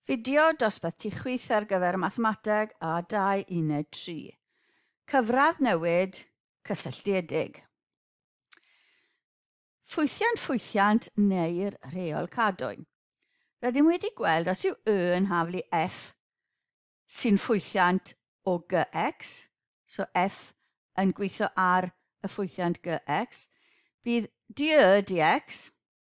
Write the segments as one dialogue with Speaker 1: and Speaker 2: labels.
Speaker 1: Fideo dosbarth tu chwith ar gyfer Mathemateg A2 Uned 3. Cyfradd newid cysylltiedig. Ffwythiant ffwythiant neu'r rheol cadwyn. Rydym wedi gweld os yw y yn haflu f sy'n ffwythiant o gx, so f yn gweithio ar y ffwythiant gx, bydd dy dx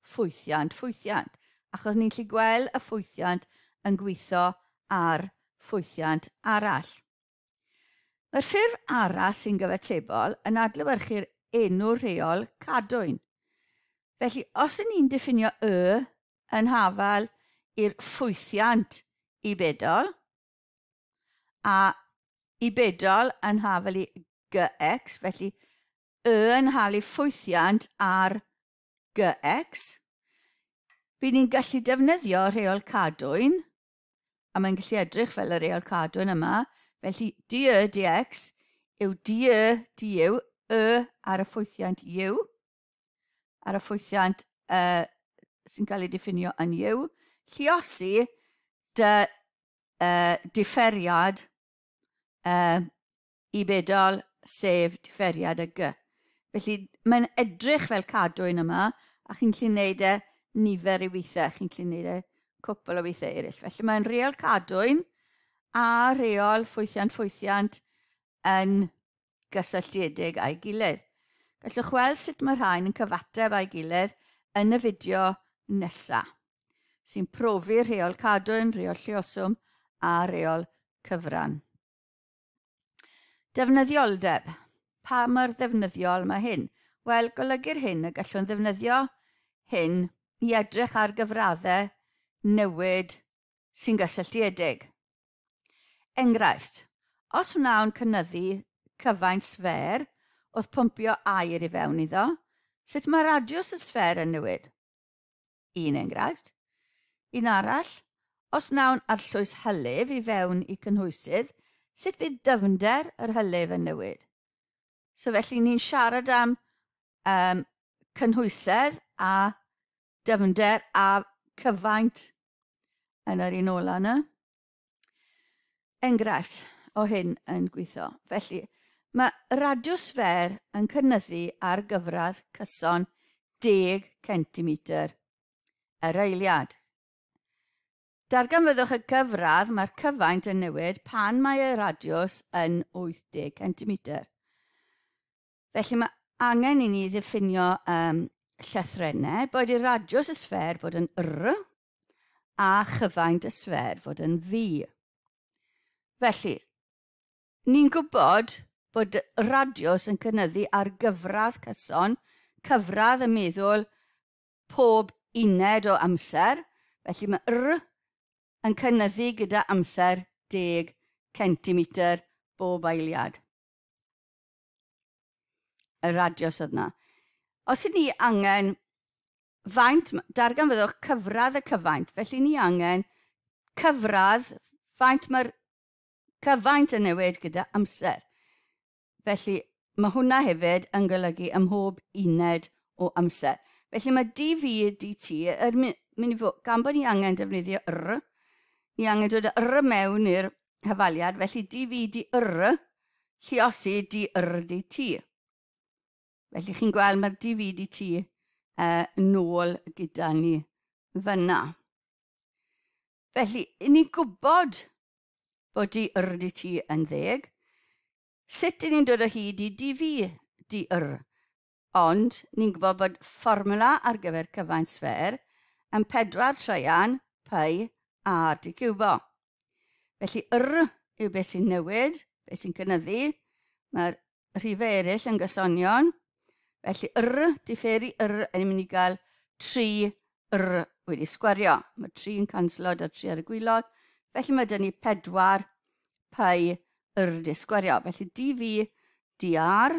Speaker 1: ffwythiant, ffwythiant, achos ni'n gallu gweld y ffwythiant yn gweithio ar ffwythiant arall. Mae'r ffurf arall sy'n gyfatebol yn adlewyrchu'r enw rheol cadwyn. Felly, os yn ni'n diffinio y yn hafal i'r ffwythiant i bedol, a i bedol yn hafal i gx, felly y yn hafal i ffwythiant ar GX, bydd ni'n gallu defnyddio rheol cadwyn, a mae'n gallu edrych fel y reol cadwyn yma, felly dy dx yw dy dy yw y ar y ffwythiant yw, ar y ffwythiant uh, sy'n cael ei diffinio yn yw, lliosi dy uh, differiad uh, i bedol, sef diferiad y gy. Felly, mae'n edrych fel cadw un yma, a chi'n gallu gwneud e nifer i weithiau, chi'n gallu gwneud e cwpl o weithiau eraill. Felly, mae'n reol cadwyn a reol ffwythiant ffwythiant yn gysylltiedig â'i gilydd. Gallwch weld sut mae rhain yn cyfateb â'i gilydd yn y fideo nesaf, sy'n profi reol cadwyn, reol llioswm a reol cyfran. Defnyddioldeb. Pa mor ddefnyddiol mae hyn? Wel, golygu'r hyn y gallwn ddefnyddio hyn i edrych ar gyfraddau newid sy'n gysylltiedig. Enghraifft, os wnawn cynyddu cyfaint sffer wrth pwmpio aer i fewn iddo, sut mae radiws y sffer yn newid? Un enghraifft. Un arall, os wnawn arllwys hylif i fewn i cynhwysydd, sut fydd dyfnder yr hylif yn newid? So felly ni'n siarad am um, cynhwysedd a dyfnder a cyfaint yn yr un ola yna. enghraifft o hyn yn gweithio. Felly, mae radiws fer yn cynyddu ar gyfradd cyson 10 centimetr yr eiliad. Darganfyddwch y gyfradd mae'r cyfaint yn newid pan mae y radiws yn 80 centimetr. Felly mae angen i ni ddiffinio um, llythrenau, boed i'r radiws y sfer bod yn r, a chyfaint y sffer fod yn fi. Felly, ni'n gwybod bod radiws yn cynyddu ar gyfradd cyson, cyfradd y meddwl pob uned o amser, felly mae r yn cynyddu gyda amser 10 centimetr bob eiliad. y radios oedd yna. Os ydyn ni angen faint, darganfyddwch cyfradd y cyfaint, felly ni angen cyfradd faint mae'r cyfaint yn newid gyda amser. Felly mae hwnna hefyd yn golygu ym mhob uned o amser. Felly mae dv dt yn mynd i fod, gan bod ni angen defnyddio r, ni angen dod r mewn i'r Hyfaliad, felly di fi di yr, lliosi di yr di ti. Felly chi'n gweld mae'r di fi di ti uh, nôl gyda ni fyna. Felly, i ni gwybod bod di yr di ti yn ddeg, sut i ni'n dod o hyd i di fi di yr? Ond, ni'n gwybod bod fformwla ar gyfer cyfaint sffêr yn pedwar traean pi ar d ciwbo. Felly r yw beth sy'n newid, beth sy'n cynyddu, mae'r rhifau eraill yn gysonion, felly r differi r yn mynd i gael 3 r wedi sgwario. Mae 3 yn canslo da 3 ar y gwylod, felly mae dyn ni 4 pi r di sgwario. Felly dv dr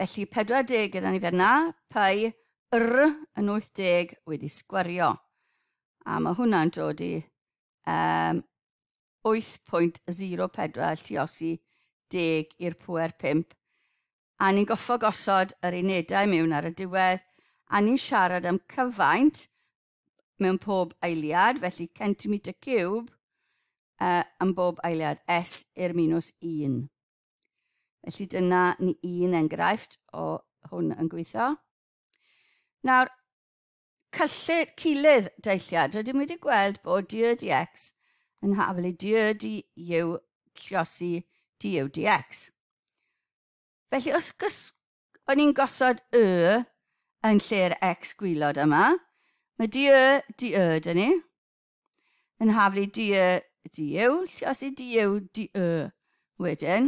Speaker 1: Felly 40 gyda ni fer na, pai r yn 80 wedi sgwario. A mae hwnna'n dod i um, 8.04 lliosi 10 i'r pwer 5. A ni'n goffo gosod yr unedau mewn ar y diwedd, a ni'n siarad am cyfaint mewn pob eiliad, felly centimetr cube uh, yn bob eiliad, S i'r minus 1. Felly dyna ni un enghraifft o hwn yn gweithio. Nawr, cyllid cilydd deilliad. Rydym wedi gweld bod du di x yn haflu du di yw lliosi du yw di x. Felly, os gys... o'n i'n gosod y yn lle'r x gwylod yma, mae du y di y dyn ni. Yn haflu di y diw, llosi diw di y wedyn.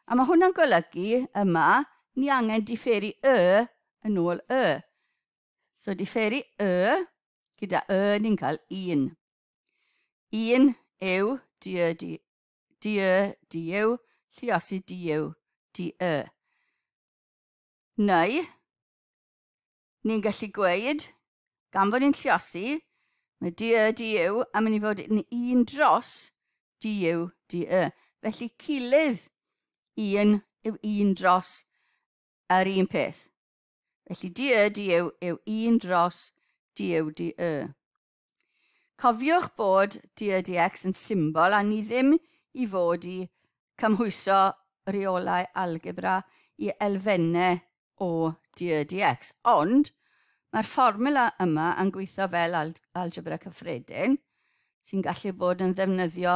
Speaker 1: A mae hwnna'n golygu yma, ni angen diferu y yn ôl y. So diferu y gyda y ni'n cael un. Un yw di y di, di y di yw, lliosi di yw di y. Neu, ni'n gallu gweud, gan fod ni'n lliosi, mae DY, DU yn mynd i fod yn un dros DU, DY. Felly cilydd un yw un dros yr un peth. Felly DY, DU yw un dros DU, DY. Cofiwch bod DRDX yn symbol a ni ddim i fod i cymhwyso rheolau algebra i elfennau o DRDX, ond mae'r fformula yma yn gweithio fel algebra cyffredin sy'n gallu bod yn ddefnyddio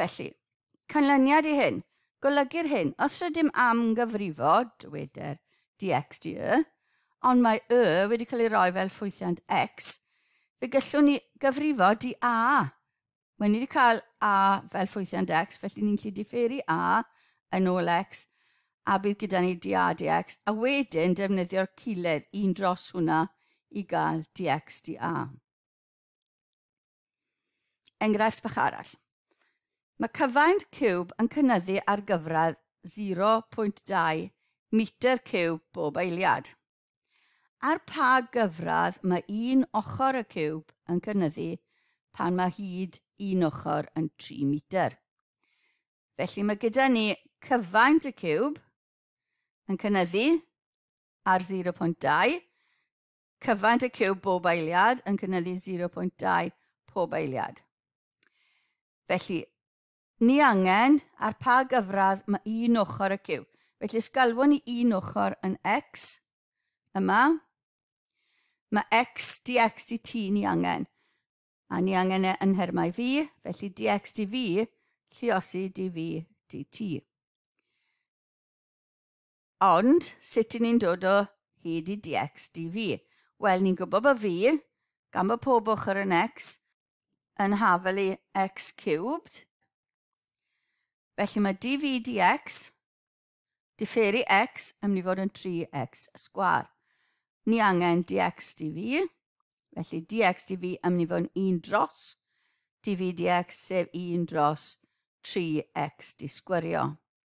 Speaker 1: Felly, canlyniad i hyn, golygu'r hyn, os rydym am gyfrifo, dyweder dx dy y, ond mae y wedi cael ei roi fel ffwythiant x, fe gyllwn ni gyfrifo di a. Mae ni wedi cael a fel ffwythiant x, felly ni'n gallu diffeiri a yn ôl x, a bydd gyda ni di a dx, a wedyn defnyddio'r culled un dros hwnna i gael dx di a. Enghraifft bach arall. Mae cyfaint ciwb yn cynnyddu ar gyfradd 0.2 metr ciwb bob eiliad. Ar pa gyfradd mae un ochr y ciwb yn cynnyddu pan mae hyd un ochr yn 3 metr? Felly mae gyda ni cyfaint y ciwb yn cynnyddu ar 0.2 Cyfaint y ciwb bob eiliad yn cynyddu 0.2 pob eiliad. Felly, ni angen ar pa gyfradd mae un ochr y ciwb. Felly, os galwon ni un ochr yn x, yma, mae x dx dt ni angen. A ni angen e yn nhermau fi, felly dx dv, lliosi dv dt. Ond, sut i ni'n dod o hyd i DX DV? Wel, ni'n gwybod bod V, gan bod pob ochr yn X, yn hafel i X cubed. Felly mae DV DX, differi X, yn mynd i fod yn 3X sgwar. Ni angen DX DV, felly DX DV yn mynd i fod yn 1 dros DV DX, sef 1 dros 3X disgwyrio.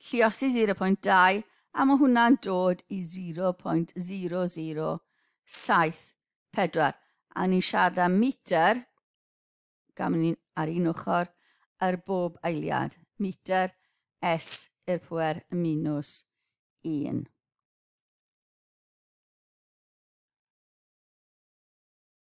Speaker 1: Lliosi 0.2 a mae hwnna'n dod i 0.0074 a ni'n siarad am metr, gam ni'n ar un ochr, ar bob eiliad, metr S i'r pwer minus 1.